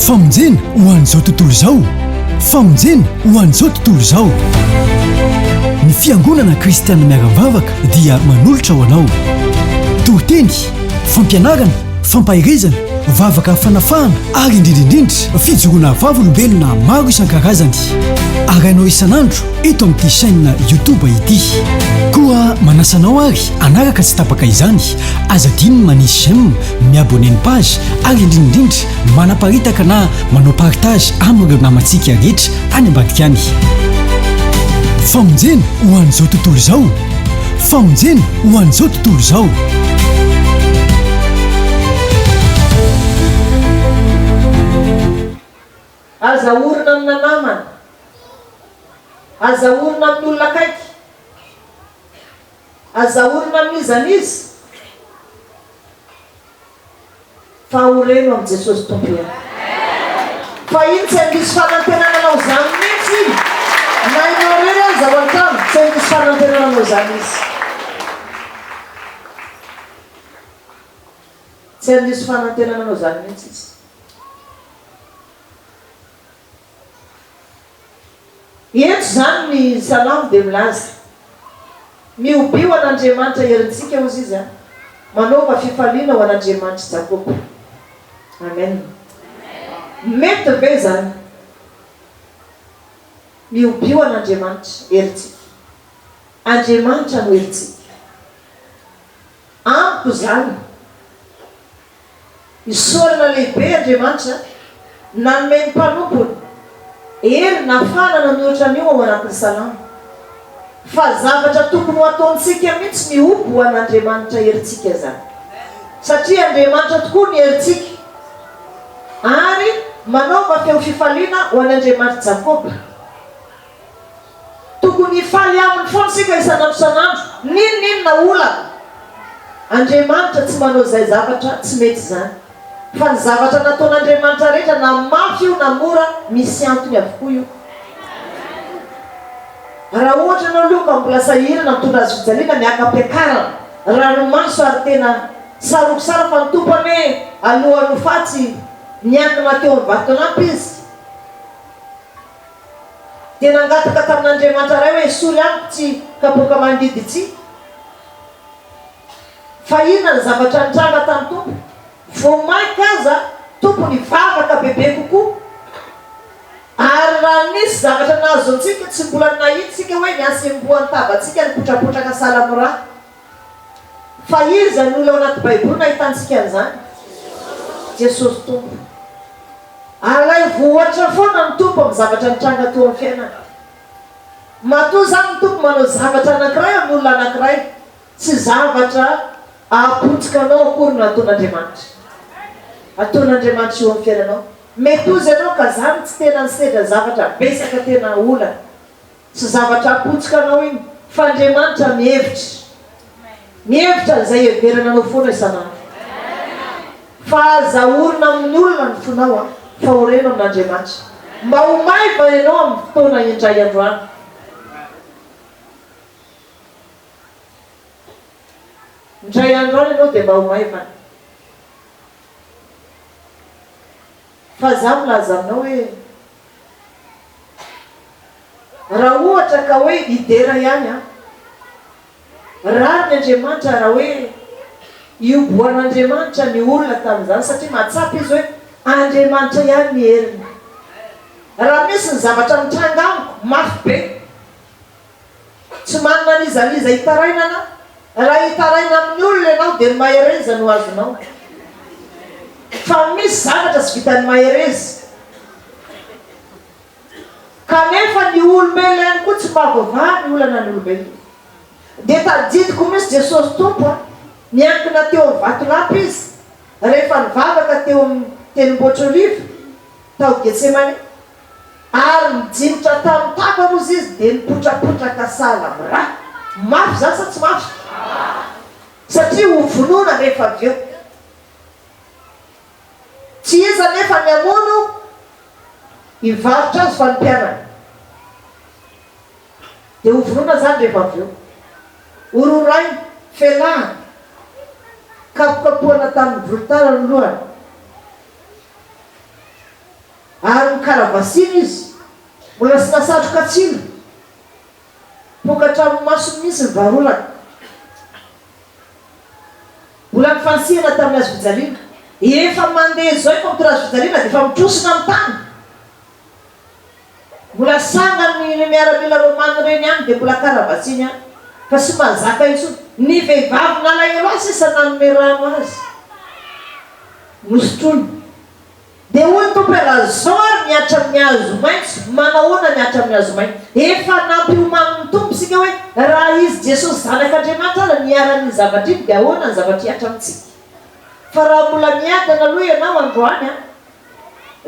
Famonjena ho an'izao tontolo izao Famonjena ho an'izao tontolo izao Ny fiangonana kristianina miara-mivavaka dia manolotra ho anao toriteny fampianarana fampaherezana vavaka fanafahana ary indrindra indrindra fijoroana vavolombelona maro isan-karazany arahinao isan'andro eto amin'ity chaîne YouTube ity koa manasa anao ary anaraka tsy tapaka izany aza adino ny manisy j'aime mi-abonner ny page ary indrindraindrindra manaparitaka na manao partage amin'ireo namantsika rehetra any ambadika any. Famonjena ho an'izao tontolo izao Famonjena ho an'izao tontolo izao. Aza orina amina namana. Aza orina amin'ny olona akaiky. Aza orina amin'iza n'iza fa ho reno amin'i Jesosy Tompo ihany. Fa iny tsy handiso fanantenana anao izany mihitsy iny. Na ianao irery aza ao an-trano, tsy handiso fanantenana anao izany Izy. Tsy handiso fanantenana anao izany mihitsy Izy. Eto izany ny Salamo dia milaza, Mihobia ho an'Andriamanitra herintsika, hozy izy, a! Manaova fifaliana ho an'Andriamanitr'i Jakoba. Amen. Mety ve izany? Mihobia ho an'Andriamanitra herintsika. Andriamanitra no herintsika. Amiko izany. Isaorana lehibe Andriamanitra nanome ny mpanompony hery nahafahana nanoratra an'io ao anatin'ny Salamo. Fa zavatra tokony ho ataontsika mihitsy ny homby ho an'Andriamanitra herintsika izany. Satria Andriamanitra tokoa ny herintsika. Ary manaova feo fifaliana ho an'Andriamanitr'i Jakoba. Tokony hifaly aminy foana isika isan'andro isan'andro n'inon'inona olana. Andriamanitra tsy manao izay zavatra tsy mety izany. Fa ny zavatra nataon'Andriamanitra rehetra na mafy io na mora misy antony avokoa io. Raha ohatra ianao aloha ka mbola sahirana mitondra hazo fijaliana miaka-piakarana, ranomaso ary tena saroko sara fa ny Tompo anie alohan'ny ho faty niangona teo amin'ny vaton'ampy izy. Dia nangataka tamin'Andriamanitra Ray hoe, Esory amiko tsy hikapoka mangidy ity. Fa inona ny zavatra nitranga tamin'ny Tompo? Vao mainka aza Tompo nivavaka bebe kokoa. Ary raha nisy zavatra nahazo antsika, tsy mbola nahitsika hoe nihasembohan'ny tavantsika nipotrapotraka salamora Fa iza izany olona ao anaty baiboly no ahitantsika an'izany? Jesosy Tompo. Alaivo ohatra foana ny Tompo amin'ny zavatra nitranga teo amin'ny fiainana. Matoa izany ny Tompo manao zavatra anankiray amin'ny olona anankiray, tsy zavatra apotikanao akory no ataon'Andriamanitra. Ataon'Andriamanitra eo amin'ny fiainanao. Mety ho izy ianao ka izany tsy tena nisedra zavatra betsaka tena olana. Tsy zavatra apotsokanao iny fa Andriamanitra mihevitra. Mihevitra an'izay heverana anao foana isan'andro. Fa aza orina amin'ny olona ny fonao an, fa oreno amin'Andriamanitra. Mba ho maiva ianao amin'ny fotoana indray androany. Indray androany ianao dia mba ho maiva. Fa za milaza aminao hoe raha ohatra ka hoe hidera ihany an! Rariny Andriamanitra raha hoe iobohan'Andriamanitra ny olona tamin'izany satria mahatsapa izy hoe Andriamanitra ihany ny heriny. Raha misy ny zavatra mitranga amiko mafy be. Tsy manana n'iza n'iza hitarainana, raha hitaraina amin'ny olona ianao dia ny mahereza no azonao. Fa misy zavatra tsy vitan'ny mahereza. Kanefa ny olombelona ihany koa tsy mahavoavaha ny olana ny olombelona. Dia tadidiko mihitsy Jesosy Tompo a! Niankina teo amin'ny vatolampy Izy rehefa nivavaka teo amin'ny Tendrombohitr'Oliva tao Getsemane. Ary nijinjitra tamin'ny tavany ozy izy dia nipotrapotraka sahala amin'ny rà. Mafy izany sa tsy mafy? Satria hovonoina anefa avy eo. Tsy izy anefa ny hamono hivarotra azy fa ny mpianany. Dia hovonoina izany rehefa avy eo. Hororaina, felahana, kapokapohana tamin'ny volotara ny lohany. Ary ny kalabasiny izy, mbola tsy nasatroka tsilo, poaka hatramin'ny masony mihitsy ny varolana. Mbola nifanisihana tamin'ny hazofijaliana. Efa mandeha izao efa mitondra hazofijaliana dia efa mitrosona amin'ny tany. Mbola sangany ireo miaramila Romana ireny any dia mbola kalabasiny ihany, fa tsy mahazaka intsony. Ny vehivavy nalahelo ahy sisa nanome rano azy, nosotroiny. Dia hoy ny Tompo hoe, Raha izao ary ny Atra amin'ny hazo maitso, manahoana ny Atra amin'ny hazo mainty? Efa nampiomanin'ny Tompo isika hoe raha Izy Jesosy Zanak'Andriamanitra ary niharan'iny zavatra iny dia ahoana ny zavatra hihatra amintsika. Fa raha mbola miadana aloha ianao androany an,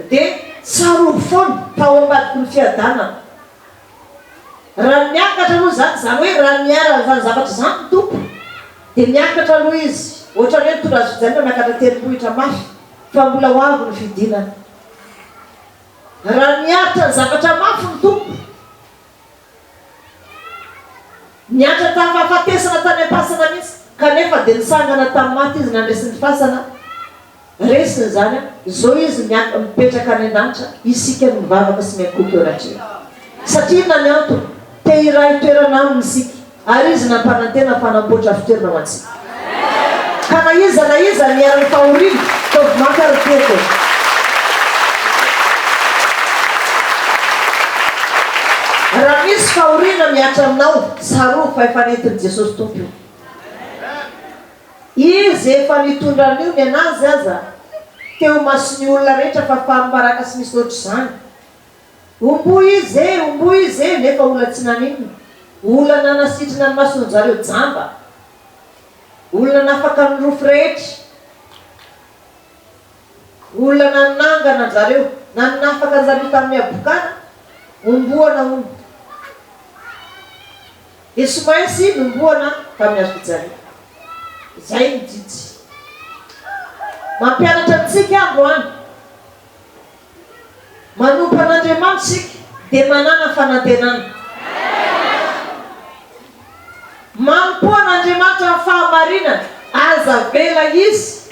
dia tsarovy foana fa ao ambadiky ny fiadanana. Raha miakatra aloha izany, izany hoe raha niharan' izany zavatra izany ny Tompo, dia miakatra aloha Izy, ohatra ny hoe nitondra azy fijanona miakatra tendrombohitra mafy, fa mbola ho avy ny fidinana. Raha niaritra ny zavatra mafy ny Tompo, niantra tamin'ny fahafatesana tany am-pasana mihitsy, kanefa dia nisangana tamin'ny maty Izy nandresy ny fasana, Resiny izany an! Izao izy miank mipetraka any an-danitra, isika no mivavaka sy miankohoka eo anatrehany. Satria inona ny antony? Te hiray toerana Aminy isika, ary Izy nampanantena fa hanamboatra fitoerana ho antsika. Ka na iza na iza niharan'ny fahoriana, ataovy maka ary mitoetra eo. Raha misy fahoriana mihatra aminao, tsarovy fa efa nentin'i Jesosy Tompo io. Izy efa nitondra an'io ny an'azy aza teo mason'ny olona rehetra fa faham-baraka sy misaotra izany. Omboy izy e! Omboy izy e! Nefa olona tsy naninona. Olona nanasitrana ny mason'ny zareo jamba. Olona nafaka ny rofy rehetra. Olona nanangana an-jareo. Nanafaka an-jareo tamin'ny habokana. Omboana hono. Dia tsy maintsy nombohana tamin'ny hazo fijaliana. Izay ny jijy. Mampianatra antsika androany. Manompo an'Andriamanitra isika dia manana fanantenana. Manompo an'Andriamanitra amin'ny fahamarinana. Aza avela Izy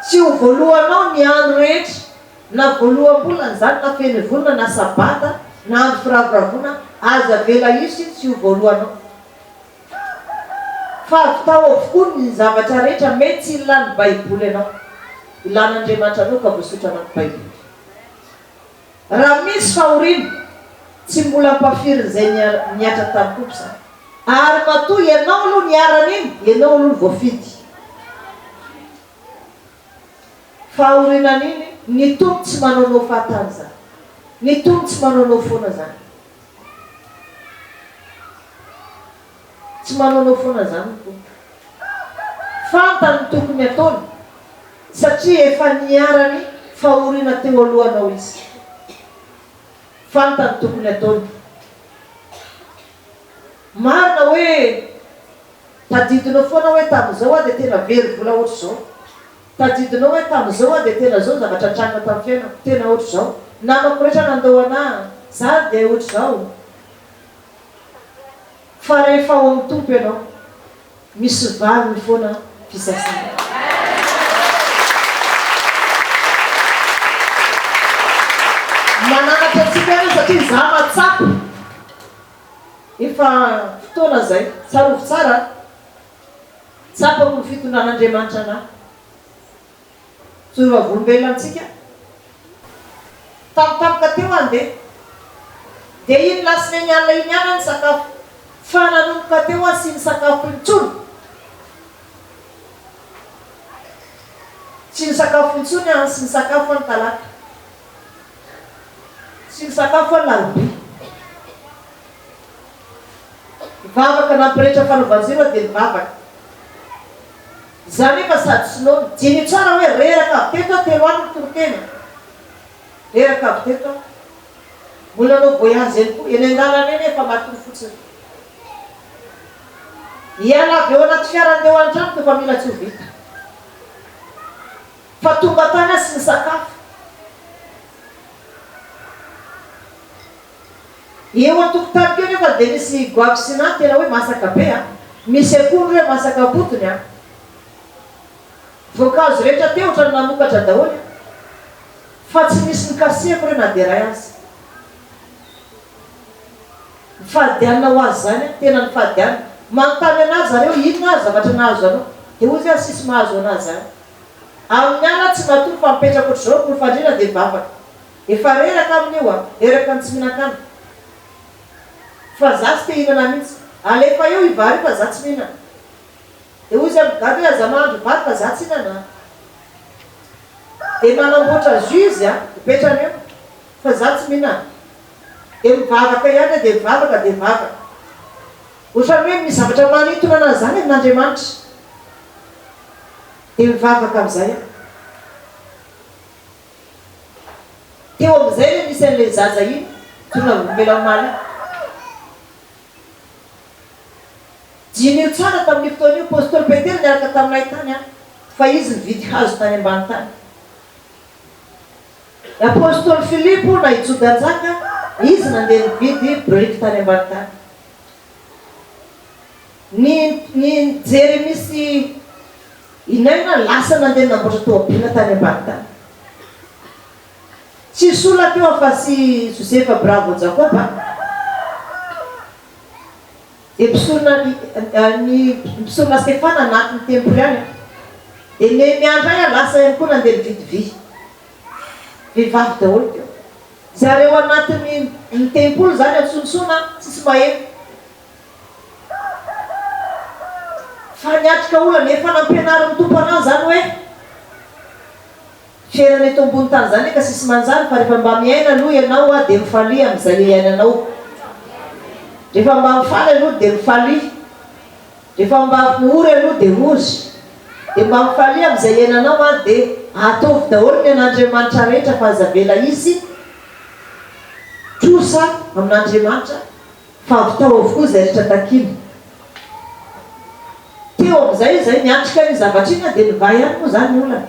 tsy ho voalohanao ny andro rehetra. Na voaloham-bolana izany na fenivolana na sabata na andro firavoravoana aza avela hiso iny tsy ho voalohanao fa avy tao avokoa ny zavatra rehetra mety tsy hilan'ny baiboly anao ilan'Andriamanitra anao ka voasotra anaty baiboly raha misy fahoriana tsy mbola ampafirin'izay nihatra tany koa mpizahary ary matoa ianao aloha niharan'iny ianao aloha ny voafidy Fa aorinan'iny, ny Tompo tsy manaonao fahatany izany. Ny Tompo tsy manaonao foana izany. Tsy manaonao foana izany ny Tompo. Fantany ny tokony hataony, satria efa niharan'ny fahoriana teo alohanao Izy. Fantany ny tokony hataony. Marina hoe Tadidinao foana hoe tamin'izao aho dia tena very vola hoatr'izao. Tadidinao hoe tamin'izao aho dia tena izao ny zavatra nitranga tamin'ny fiainako. Tena hoatr'izao. Namako rehetra nandao anà. Za ary dia hoatr'izao. Fa rehefa ao amin'ny Tompo ianao, misy valiny foana fisasana. Mananatra antsika Izy satria izaho mahatsapa. Efa fotoana izay. Tsarovy tsara an! Tsapako ny fitondran'Andriamanitra anà. Tsory vavolombelona amintsika. Tamin'ny tampoka teo aho ndeha. Dia iny lasineny alina iny ihany aho nisakafo. Fa nanomboka teo aho sy ny sakafoko intsony. Tsy nisakafo intsony aho sy nisakafo aho ny talata. Tsy nisakafo fa nalobi. Nivavaka nampirehetra fanaovan-jiro aho dia nivavaka. Izaho anefa sady tsy noana. Diniho tsara hoe reraka avy teto aho telo alina toriteny. Reraka avy teto aho. Mbola nanao voyage eny koa. Eny an-dalana eny efa matory fotsiny. Hiala avy ao anaty fiara handeha ho an-tranoko efa mila tsy ho vita. Fa tonga tany aho sy nisakafo eo an-tokontaniko eo nefa dia nisy goavy sy nà tena hoe masaka be a! Misy akondro hoe masaka am-potony a! Voankazo rehetra teo otrany nanokatra daholo a! Fa tsy nisy nikasihako re na dia iray aza. Nifadianina ho azy izany aho, tena nifadianina. Manontany anà zareo inona ary zavatra nahazo anao? Dia hoy izy hoe asisy mahazo anà izany. Amin'ny ala tsy matory fa mipetraka ohatr'izao ny olom-fandriana dia mivavaka. Efa reraka aminy io a! Reraka ny tsy mihinan-kanina. Fa za tsy te hihinana mihitsy. Alefa eo i vary io fa za tsy mihinana. Dia hoy izy amin'ny gadra hoe aza mahandro vary fa za tsy hihinana an! Dia manamboatra jus izy an! Mipetrany eo fa za tsy mihinana. Dia mivavaka ihany dia mivavaka dia vavaka. Ohatran'ny hoe misy zavatra manintona anazy izany amin'Andriamanitra. Dia mivavaka amin'izay aho. Teo amin'izay ilay misy an'ilay zaza iny, tonga ny vokela omaly iny. Diniho tsara tamin'io fotoana io, Apostoly Petera niaraka taminay tany an, fa izy nividy hazo tany ambany tany. I Apostoly Filipo na i Joda Njaka, izy nandeha nividy biriky tany ambany tany. Ny ny Jeremia sy i Nena lasa nandeha namboatra toabila tany ambany tany. Tsy sola teo afa-tsy i Josefa Bravo Jakoba, dia mpisorona ny mpisorona Stefana anaty ny tempoly any, dia Nehemia indray lasa ihany koa nandeha nividy vy. Vehivavy daholo teo. Zareo anatiny ny tempoly zany antsontsona tsisy maheno fa ny atrika olana efa nampianarin'ny tompo anazy zany hoe fiainana eto ambony tany zany eka sisy manjary fa refa mba miaina aloha ianao a de mifalia amizay iainanao refa mba mifaly aloha de mifalia Refa mibavy ny ory aloha de ory de mba mifalia amizay iananao an de ataovy daholo ny an'Andriamanitra rehetra fa aza avela hisy trosa amin'Andriamanitra fa avitao avokoa izay rehetra takina teo amizay izay miatrika iny zavatra iny an de mivahy ihany moa zany ny olana.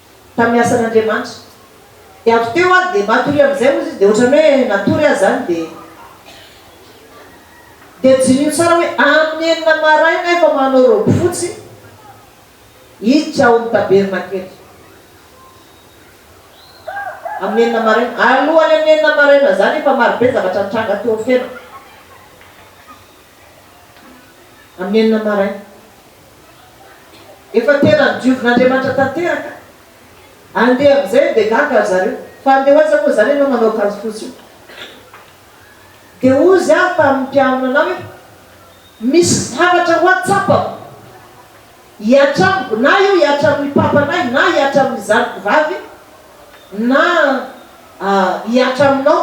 tamin'ny asan'Andriamanitra. Dia avy teo ary dia matoria amin'izay hozy izy, dia ohatran'ny hoe natory azy izany dia dia jiniho tsara hoe amin'ny enina maraina efa manao robe fotsy hiditra ao amin'ny tabernakely. Amin'ny enina maraina, alohan'ny amin'ny enina maraina izany efa marobe ny zavatra nitranga teo Feno. Amin'ny enina maraina. Efa tena nodiovin' Andriamanitra tanteraka. Andeha amin'izay dia gaga ry zareo. Fa andeha ho aiza moa izany ianao manao akanjo fotsy io? Dia hozy aho tamin'ny mpianona anao hoe, Misy zavatra ho ahy tsapako. Hihatra amiko na io hihatra amin'ny papanay na hihatra amin'ny zanako vavy na hihatra aminao.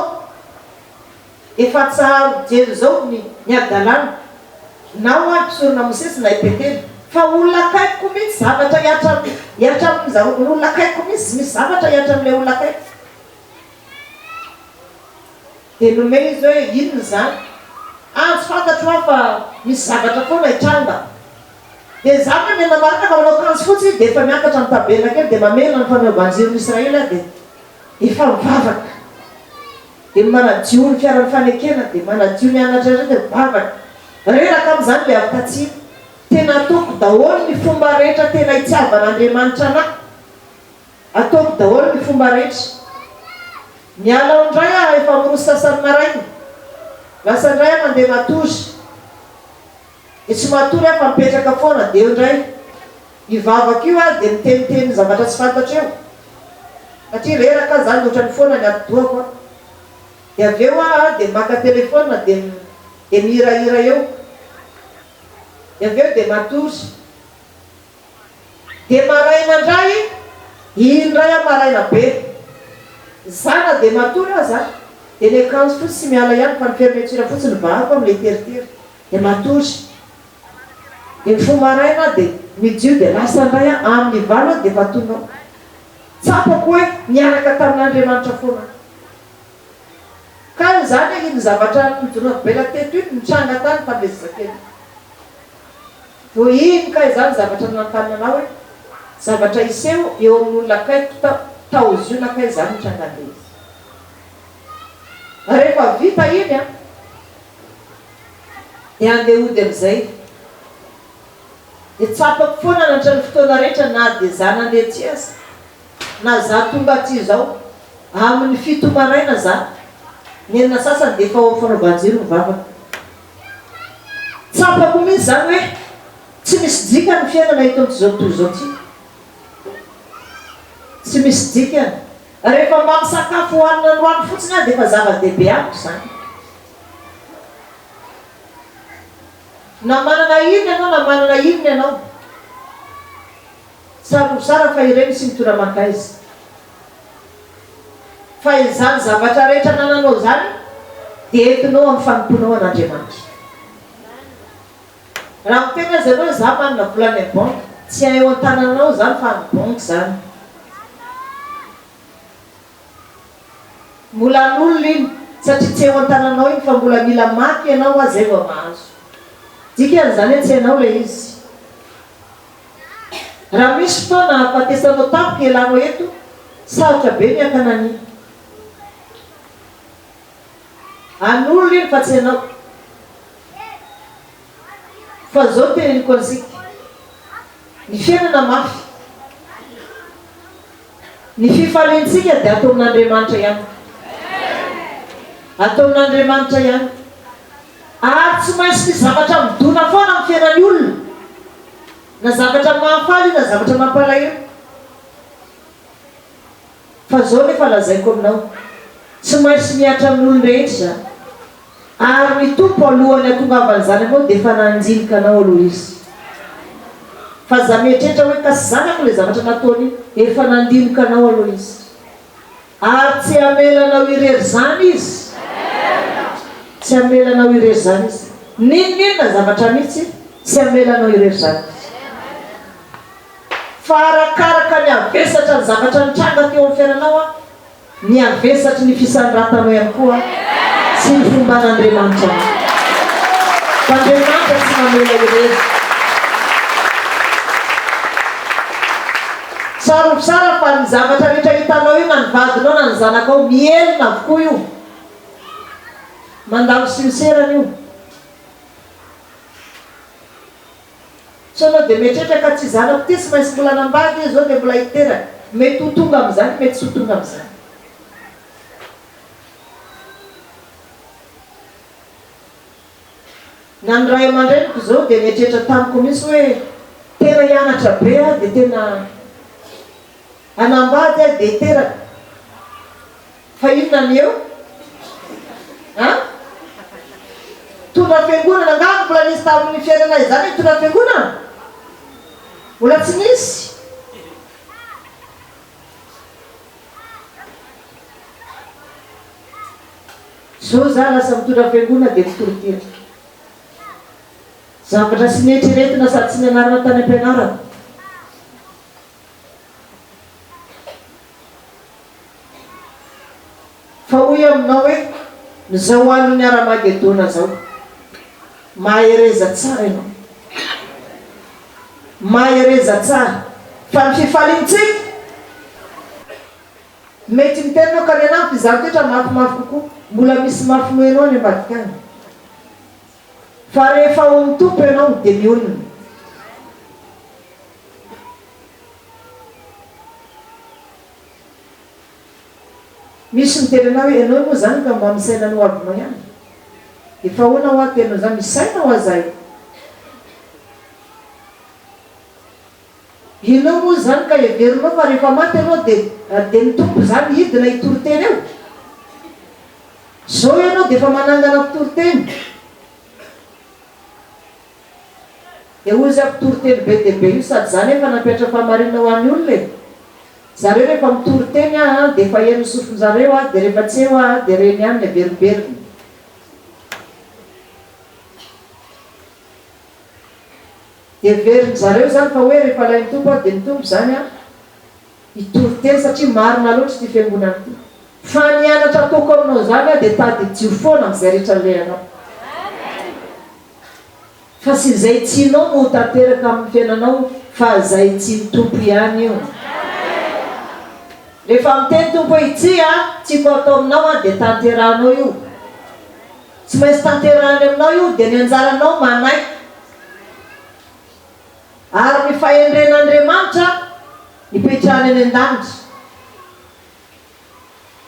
Efa tsaharo jery zao ny ny adalana nao ary mpisorona mosesy na i petera fa olona akaiko ko mintsy zavatra hiatra hiatra aminy za olona akaiko ko mintsy misy zavatra hiatra amle olona akaiko de nomena izy oe inona zany ah tsy fantatro ah fa misy zavatra foana hitranga de za anie miandry marina fa manao akanjo fotsy izy de efa miakatra am tabernakely de mamela ny fanaovan-jiro ny israely ah de efa mivavaka Dia manadio ny fiaran'ny fanekena dia manadio ny anatra indray dia mivavaka. Reraka amin'izany ilay avy tatsimo. Tena ataoko daholo ny fomba rehetra tena hitiavan'Andriamanitra anahy. Ataoko daholo ny fomba rehetra. Miala ao indray aho efa miroso sasany maraina. Lasa indray aho mandeha matory. dia tsy matory aho fa mipetraka foana dia eo indray io vavaka io ary dia miteniteny zavatra tsy fantatra eo satria reraka aho izany dia ohatran'ny foana ny atidohako an! dia avy eo aho dia maka telephone dia dia mihirahira eo dia avy eo dia matory dia maraina indray iny indray aho maraina be zana dia matory aho zany dia ny akanjoko fotsy tsy miala ihany fa ny fermeture fotsiny vahako amin'ilay teritery dia matory. Dia mifoha maraina aho dia mijio dia lasa indray aho, amin'ny valo aho dia efa tonao. Tsapako hoe niaraka tamin'Andriamanitra foana aho. Ka izany iny zavatra nijoroako be ela teto iny nitranga tany tamin'ilay zazakely iny. Vao iny kay izany zavatra nanontaniana anao hoe zavatra hiseho eo amin'ny olona akaiky tao tao Ziona kay izany nitranga an'ilay izy. Rehefa vita iny an. Dia andeha hody amin'izay. Dia tsapako foana nandritra ny fotoana rehetra na dia izaho nandeha aty aza, na izaho tonga aty izao, amin'ny fito maraina izany, ny enina sasany dia efa ao amin'ny fanaovan-jiro ny vavako. Tsapako mihitsy izany hoe tsy misy dikany ny fiainana eto amin'izao tontolo izao ity. Tsy misy dikany. Rehefa mba misakafo hohanina androany fotsiny aho dia efa zava-dehibe amiko izany. Na manana hiriny ianao na manana hiriny ianao, saro mizara fa ireny tsy mitora aman-kaiza. Fa izany zavatra rehetra anananao izany dia entinao amin'ny fanompoanao an'Andriamanitra. Raha miteny aza ianao hoe za manana vola any banky, tsy eo an-tanananao izany fa any banky izany. Mbola an'olona iny satria tsy eo an-tananao iny fa mbola mila maka ianao hoa zay vao mahazo. Dikan'izany hoe tsy hainao ilay izy. Raha misy fotoana hahafatesanao tampoka ialànao eto, sarotra be ny hakana an'iny. An'olona iny fa tsy anao. Fa izao no teneniko antsika. Ny fiainana mafy. Ny fifaliantsika dia ataon'Andriamanitra ihany. Ataon'Andriamanitra ihany. Ary tsy maintsy misy zavatra midona foana amin'ny fiainan'ny olona. Na zavatra mahafaly io na zavatra mampalahelo. Fa izao nefa lazaiko aminao, tsy maintsy mihatra amin'ny olon-drehetra izany. Ary ny Tompo alohan'ny hatongavan'ny zanany moa dia efa nanjinika anao aloha Izy. Fa aza mieritreritra hoe ka tsy zanako ilay zavatra nataony iny, efa nandinika anao aloha Izy. Ary tsy hamela anao irery izany Izy. Tsy hamela anao irery izany Izy. N'inon'inona zavatra mihitsy, tsy hamela anao irery izany Izy. Fa arakaraka ny havesatra ny zavatra nitranga teo amin'ny fiainanao an. Ny havesatry ny fisandratana ihany koa tsy ny fomban'Andriamanitra no maha. Fa Andriamanitra tsy mamela irery. Tsarovy tsara fa ny zavatra rehetra hitanao io na ny vadinao na ny zanakao mihelina avokoa io. Mandalo sincere io. Sanao dia mieritreritra ka tsy zanako ty tsy maintsy mbola nambady hoe zao dia mbola hiteraka. Mety ho tonga amin'izany mety tsy ho tonga amin'izany. Na ny ray aman-dreniko zao dia nieritreritra tamiko mihitsy hoe tena hianatra be aho dia tena hanambady aho dia hiteraka. Fa inona ny eo a? Tondra fiangonana angamba mbola nisy tamin'ny fiainanay izany ny tondra fiangonana? Mbola tsy nisy. Zao za lasa mitondra fiangonana dia tsy toriteny. Zavatra tsy neritreretina sady tsy nianarana tany am-pianarana. Fa hoy aminao hoe, Izao andron'ny Haramagedona izao. Mahereza tsara ianao. Mahereza tsara. Fa ny fifaliantsika, mety miteny ianao ka ny anà ampy izany toetra mafimafy kokoa. Mbola misy mafy noenao any ambadika any. Fa rehefa ao amin'ny Tompo ianao dia mionona. Misy miteny anao hoe ianao moa izany ka mba misaina ny ho avinao ihany. Efa ahoana hoa tena izany? Misaina hoa izahay. Ianao moa izany ka heverinao fa rehefa maty ianao dia dia ny Tompo izany hidina hitory teny eo? Izao ianao dia efa manangana mpitory teny. Dia hoy izy aho, mpitory teny be dia be io sady izaho anefa nampiatra fahamarinana ho an'ny olona e! Zareo rehefa mitory teny aho dia efa heno ny sofin-jareo aho dia rehefa tsy eo aho dia reny ihany ny averimberiny. Heverin'ny zareo izany fa hoe rehefa ilay ny Tompo aho dia ny Tompo izany aho hitory teny satria marina loatra ity fiangonana ity. Fa ny anatra ataoko aminao izany aho dia tadidio foana amin'izay rehetra alehanao. Fa tsy izay tianao no ho tanteraka amin'ny fiainanao fa izay tian'ny Tompo ihany io. Rehefa miteny Tompo hoe ity an tiako hatao aminao an dia tanterahanao io. Tsy maintsy tanterahany aminao io dia ny anjaranao manaiky. Ary ny fahendren'Andriamanitra nipetrahany any an-danitra.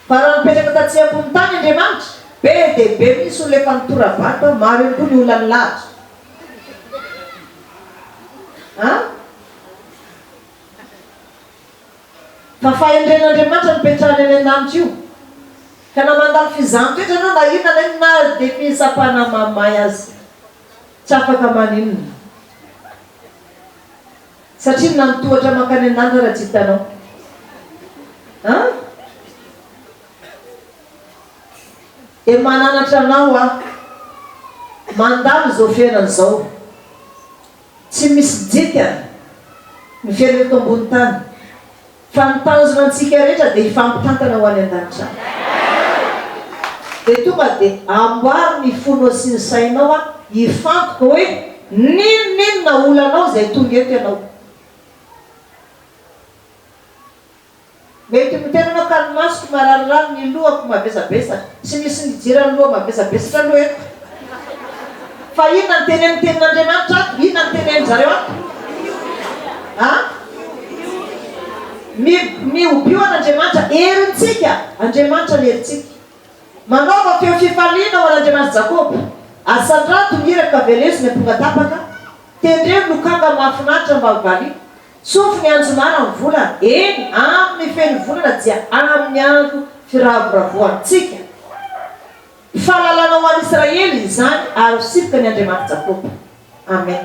Fa raha nipetraka tatsy ambony tany Andriamanitra, be dia be mihitsy olona efa nitora-bato, maro ihany koa ny olona nilahatra. A. Fa fahendren'Andriamanitra nipetrahany any an-danitra io. Ka na mandalo fizahan-toetra ianao, na inona na inona aza, dia fitsapana mamay aza. Tsy afaka maninona. Satria nanotohatra mankany an'Andra raha tsy hitanao. An? Dia mananatra anao aho. Mandalo izao fiainana izao. Tsy misy dikany ny fiainana eto ambony tany. Fa ny tanjona antsika rehetra dia hifampitantana ho any an-danitra any. Dia tonga dia amboary ny fonao sy ny sainao aho hifantoka hoe n'inon'inona olanao izay tonga eto ianao. Mety miteny ianao ka ny masoko mararirary, ny lohako mavesabesatra. Tsy misy nijery an'loha mavesabesatra aloha eto. Fa inona ny tenenin'ny Tenin'Andriamanitra ato? Inona ny tenenin-dry zareo ato? A? Mi, mihobio an'Andriamanitra herintsika. Andriamanitra ny herintsika. Manaova feo fifaliana ho an'Andriamanitry Jakoba. Asandrato ny hira ka veleo izay amponga tapaka. Tendreo ny lokanga mahafinaritra mba ho valiana. Tsofy ny anjomara amin'ny volana. Eny, amin'ny feno volana dia amin'ny andro firavoravoantsika. Fahalalana ho an'Israely izany ary ho sifoka ny Andriamani Jakoba. Amen.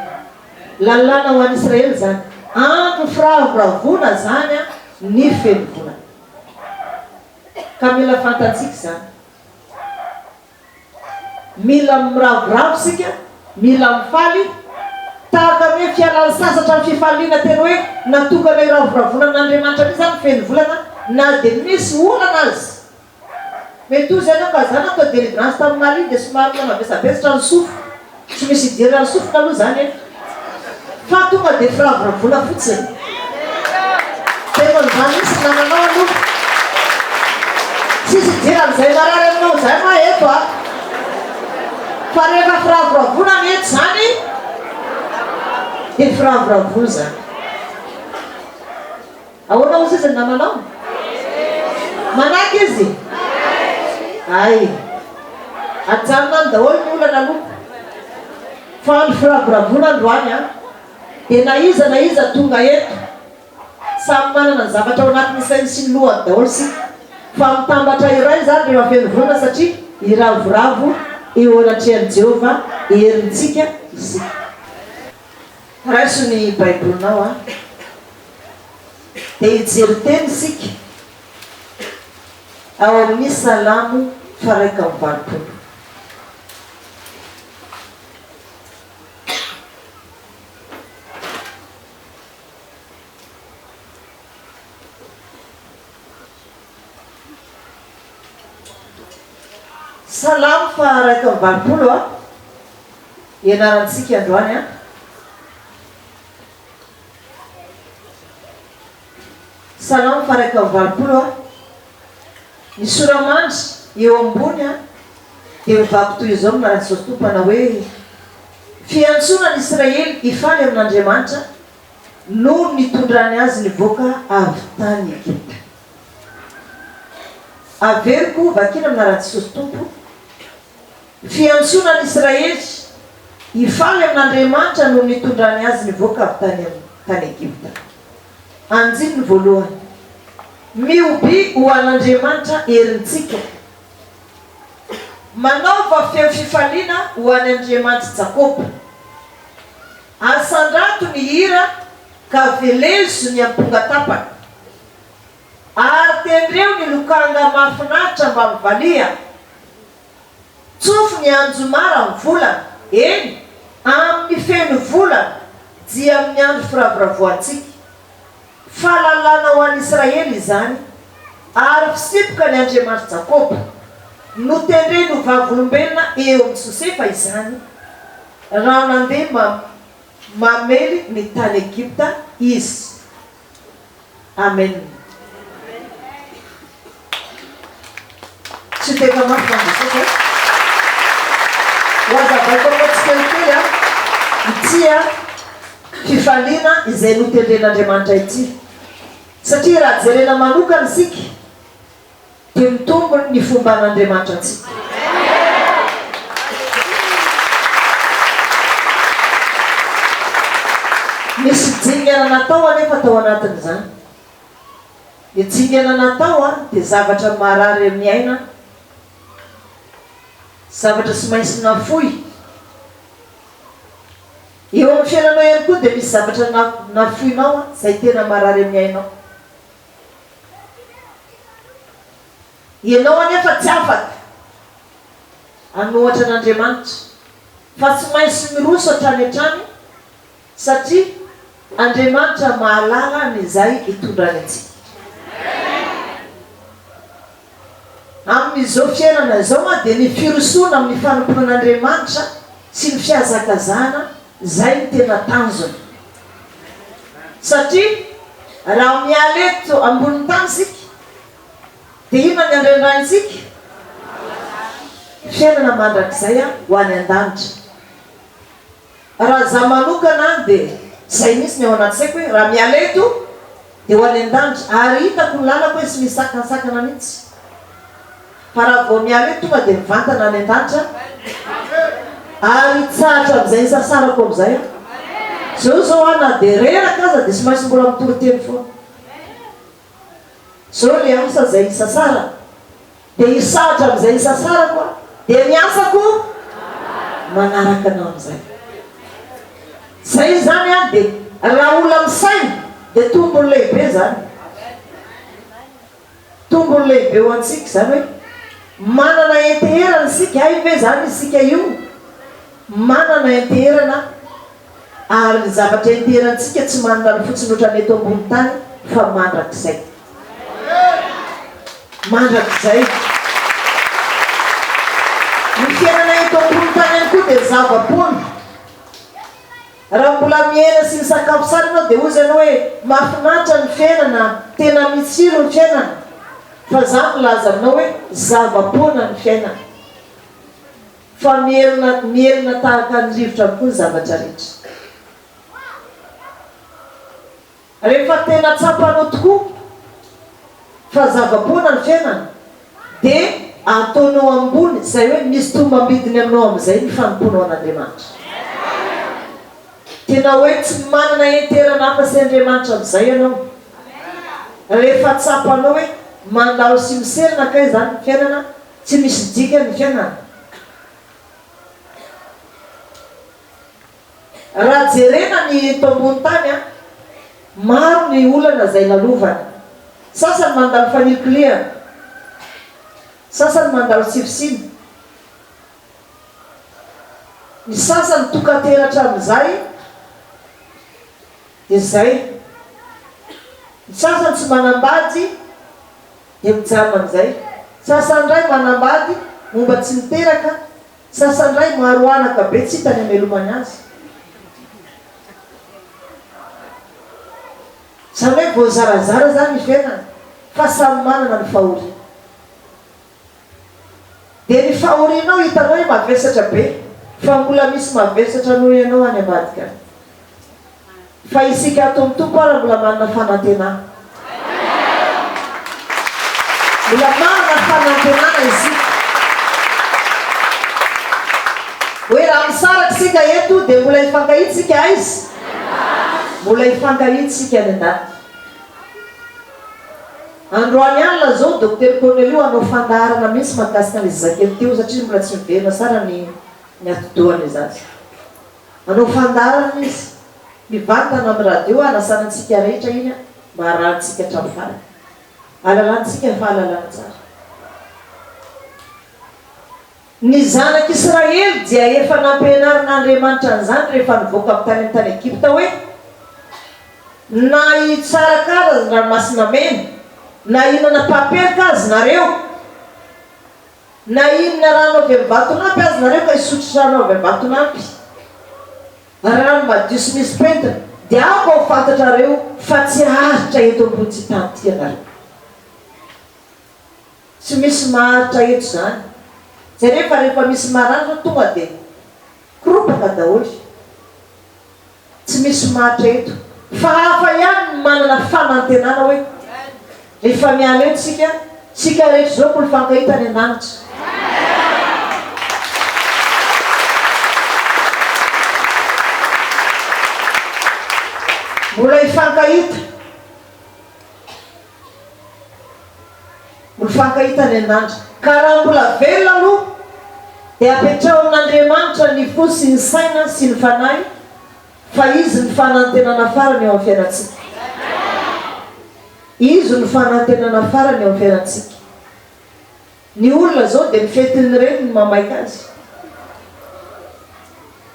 Lalàna ho an'Israely izany. Andro firavoravoana izany an ny feno volana. Ka mila fantantsika izany. Mila miravoravo isika, mila mifaly, tahaka ny hoe fialan'ny sasatra ny fifaliana tena hoe natokana hiravoravoana amin'Andriamanitra be izany ny feno volana na dia misy olana aza. Mety toy izany aho ka za natao delivrance tamin'ny Mali dia somary mbola mavesabesatra ny sofiko. Tsy misy idiran'ny sofina aloha za nefa fa tonga dia firavoravoana fotsiny. Tena izany mihitsy ny nananao aloha. Tsisy idiran'izay marary aminao izay ma eto a! Fa rehefa firavoravoana ny eto izany dia firavoravoana izany. Ahoana hozy izy ny namanao? Manaiky izy? Hay. Ajanona any daholo ny olana aloha. Fa andro firavoravoana androany an! Dia na iza na iza tonga eto, samy manana ny zavatra ao anatin'ny sainy sy ny lohany daholo isika. Fa mitambatra iray izany rehefa feno vola satria hiravoravo eo anatrehan'i Jehovah herintsika isika. Raiso ny Baibolinao an! Dia hijery teny isika ao amin'ny Salamo faraika amby valopolo. Salamo faha iraika amby valopolo a ianarantsika androany a. Salamo faha iraika amby valopolo a. Ny sora-mandry eo ambony a dia mivaky toy izao ny Manasoa Tompo manao hoe, Fiantsoana ny Israely hifaly amin'Andriamanitra no nitondrany azy nivoaka avy tany Egypta. Averiko vakina aminà raha Jesosy Tompo, Fiantsoana an'Israely hifaly amin'Andriamanitra no nitondrany azy nivoaka avy tany amin'ny tany Egypta. Andininy voalohany, Mihobi ho an'Andriamanitra herintsika. Manaova feo fifaliana ho an'Andriamanitr'i Jakoba. Asandrato ny hira ka velezo ny amponga tapaka ary tendreo ny lokanga mahafinaritra mba mivaliha Tsofy ny anjomara amin'ny volana, eny, amin'ny feno volana dia amin'ny andro firavoravoantsika Fahalalana ho an'i Israely izany ary fisipoka ny Andriamanitry Jakoba Notendreny ho vavolombelona eo amin'i Josefa izany, Raha nandeha mam mamely ny tany Egypta izy. Amen. Tsy tena mafy mandrosoka e. Hohazavaiko aminao tsikelikely an, ity an, fifaliana izay notendren'Andriamanitra ity. Satria raha jerena manokana isika. Dia ny tombony ny fomban' Andriamanitra antsika. Misy dingana natao anefa tao anatin' izany. Ny dingana natao dia zavatra marary amin' ny aina, zavatra tsy maintsy nafoy. Eo amin' ny fiainanao ihany koa dia misy zavatra nafoinao izay tena marary amin' ny ainao. Ianao anefa tsy afaka an'ohatra an'Andriamanitra fa tsy maintsy miroso hatrany hatrany satria Andriamanitra mahalala an'izay hitondrany antsika. Amin'izao fiainana izao dia ny firosoana amin'ny fanompoan'Andriamanitra sy ny fihazakazahana izay no tena tanjona. Satria raha miala eto ambonin'ny tany isika dia inona ny andrandraintsika? Fiainana mandrakizay ho any an-danitra. Raha za manokana an de zay mihitsy ny ao anaty saiko hoe raha miala eto de ho any an-danitra ary hitako ny lalako hoe tsy misy sakantsakana mihitsy fa raha vao miala eto tonga de mivantana any an-danitra ary hitsahatra amin'izay hisasarako amin'izay aho. Zao zao aho na de reraka aza de tsy maintsy mbola mitoriteny foana. Zao le asa zay isasarako de hisahatra amizay isasarako aho de ny asako manaraka anao amizay zay zany an de raha ola misaina de tombony lehibe zany tombony lehibe ho antsika zany hoe manana henteherana isika hay ve zany isika io manana henteherana ary ny zavatra enterantsika tsy manana ny fotsiny otrany eto ambony tany fa mandrakizay. Mandrakizay. Ny fiainana eto ambony tany ihany koa dia zava-poana. Raha mbola miaina sy misakafo sara ianao dia hoy izany hoe mahafinaritra ny fiainana, tena mitsiro ny fiainana. Fa za milaza aminao hoe zava-poana ny fiainana. Fa mierona, mierona tahaka ny rivotra avokoa ny zavatra rehetra. Rehefa tena tsapanao tokoa fa zava-poana ny fiainana, dia ataonao ambony, izay hoe misy tombam-bidiny aminao amin'izay ny fanompoanao an'Andriamanitra. Tena hoe tsy manana heinterana hafa sy Andriamanitra amin'izay ianao. Rehefa tsapanao hoe mandalo sy miserana kay izany ny fiainana, Tsy misy dikany ny fiainana. Raha jerena ny eto ambony tany an, maro ny olana izay lalovana. Sasany mandalo fanilikilihana, sasany mandalo sivosivy, ny sasany tokan-teratra amin'izay dia izay, ny sasany tsy manam-bady, dia mijanona amin'izay. Sasan-dray manambady momba tsy niteraka, sasan-dray maro anaka be tsy hita ny hamelomany azy. Izany hoe voazarazara izany ny fiainana fa samy manana ny fahoriany. Dia ny fahorianao hitanao hoe mavesatra be fa mbola misy mavesatra noho ianao any ambadika any. Fa isika ato amin'ny Tompo ara mbola manana fanantenana. Mbola manana fanantenana isika. Hoe raha misaraka isika eto dia mbola hifankahintsika aiza? Mbola hifankahintsika any an-danitra. Androany alina izao Docteur Cornelio hanao fandaharana mihitsy mahakasika an'ilay zazakely teo satria mbola tsy miverina tsara ny ny atidohan'ilay zaza. Anao fandaharana izy. Mivantana amin'ny radio hanasana antsika rehetra iny an, mba harahantsika hatramin'ny farany. Halalantsika fahalalana tsara. Ny Zanak' Israely dia efa nampianarin' Andriamanitra an'izany rehefa nivoaka avy tany amin'ny tany Egypta hoe, Na hitsaraka azy ny Ranomasina Mena, na hihinana papelika azy nareo, Na inona rano avy amin'ny vatonampy aza nareo ka hisotro rano avy amin'ny vatonampy, rano madio sy misy pentina, dia aho vao ho fantatrareo fa tsy haharitra eto ambony-tsy tany ity ianareo. Tsy misy maharitra eto izany. Jereo fa rehefa misy maranitra tonga dia koropaka daholo. Tsy misy matra eto fa hafa ihany ny manana fanantenana hoe rehefa miala eto isika, isika rehetra izao ko hifankahita any an-danitra. Mbola hifankahita. Mifankahita any an'Andry ka raha mbola velona aloha dia apetraho amin'Andriamanitra ny fo sy ny saina sy ny fanahy fa Izy ny fanantenana farany eo amin'ny fiainantsika. Izy no fanantenana farany eo amin'ny fiainantsika. Ny olona zao dia mifety ny reniny mamaika azy.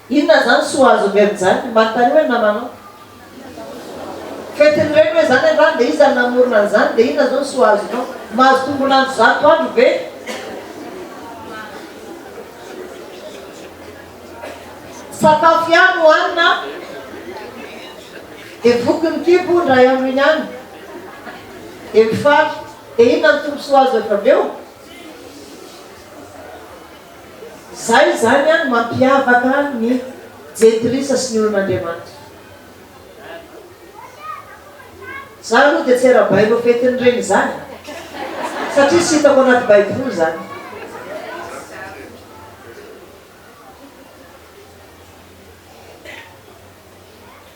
Inona zany soa azo omeny zany? Manontania hoe namanao. Fety ny reny hoe zany angaha dia iza no namorona an'izany dia inona zao ny soa azonao? Mahazo tombon'andro zato andro ve? Sakafo ihany no hanina dia voky ny kibo indray andro iny ihany dia mifaly. Dia inona ny tombontsoa azo avy aveo? Izay izany an no mampiavaka ny jentilisa sy ny olon'Andriamanitra. Izaho aloha dia tsy arabaina ho fetin'ny reny izany satria tsy hitako anaty baiboly izany.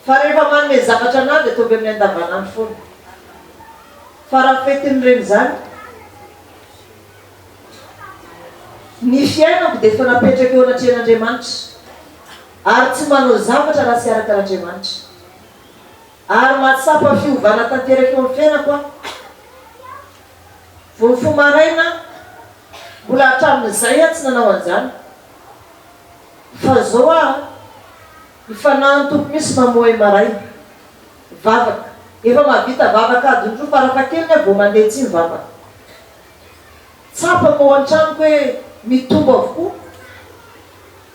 Fa rehefa manome zavatra anah dia ataovy amin'ny andavanandro foana. Farafetiny reny zany. Ny fiainako dia efa napetraka eo anatrehan'Andriamanitra ary tsy manao zavatra raha tsy araka an'Andriamanitra. Ary mahatsapa fiovana tanteraka eo amin'ny fiainako aho. Vao mifoha maraina aho, mbola hatramin'izay aho tsy nanao an'izany. Fa zao aho, mifanahy amin'ny Tompo mihitsy mamoha ahy maraina. Vavaka. Efa mahavita vavaka adiny roa farafahakeliny aho vao mandeha tsy mivavaka. Tsapako ao an-tranoko hoe mitombo avokoa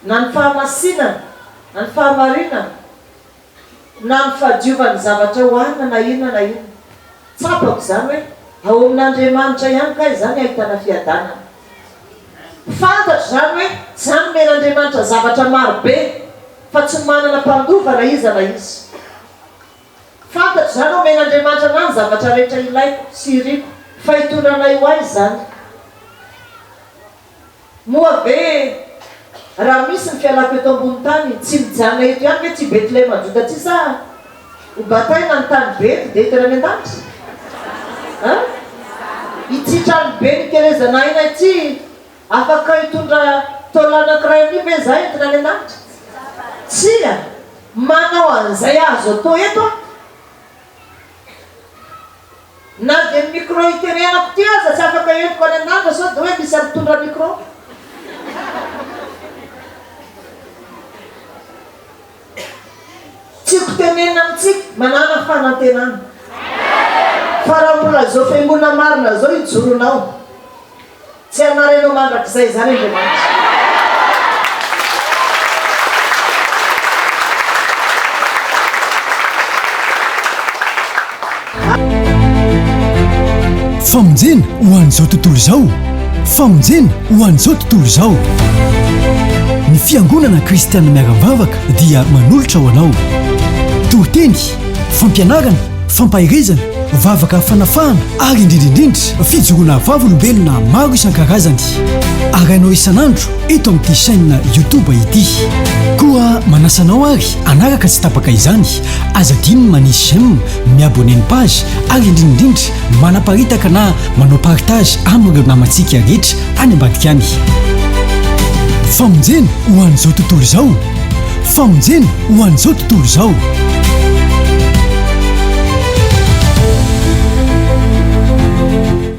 na ny fahamasinana, na ny fahamarinana, na ny fahadiovan'ny zavatra ohanina na inona na inona. Tsapako izany hoe ao amin'Andriamanitra ihany kay izany ahitana fiadanana. Fantatra izany hoe tsy hanomen'Andriamanitra zavatra maro be, fa tsy manana mpandova na iza na iza. Fantatra izany hoe omen'Andriamanitra anah ny zavatra rehetra ilaiko sy iriko, fa itondranay ho ahy izany. Moa ve raha misy ny fialako eto ambony tany, tsy mijanona eto ihany ve tsy i Betlehema Joda tsy sahy? Ho bataina ny tany be eto dia tena any an-danitra? An? Ity trano be nikelezana aina ity afaka hitondra taola anankiray anio ve izaho entina any an-danitra? Tsia! Manao an'izay azo atao eto aho. Na dia ny micro iteneanako ity aza tsy afaka entiko any an-danitra sao dia hoe misy mpitondra micro. Tiako tenenina amintsika, manana fanantenana. Fa raha mbola izao fiangonana marina izao ijoronao, tsy hanary anao mandrakizay izany Andriamanitra. Famonjena ho an'izao tontolo izao Famonjena ho an'izao tontolo izao Ny Fiangonana Kristianina Miara-Mivavaka dia manolotra ho anao Toriteny, fampianarana, fampaherezana, vavaka fanafahana ary indrindra indrindra fijoroana vavolombelona maro isan-karazany Arahinao isan'andro eto amin'ity chaîne YouTube ity Koa manasa anao ary hanaraka tsy tapaka izany Aza adino ny manisy j'aime mi-abonner ny page ary indrinindrindra manaparitaka na manao partage amin'ireo namantsika rehetra any ambadika any. Famonjena ho an'izao tontolo izao Famonjena ho an'izao tontolo izao.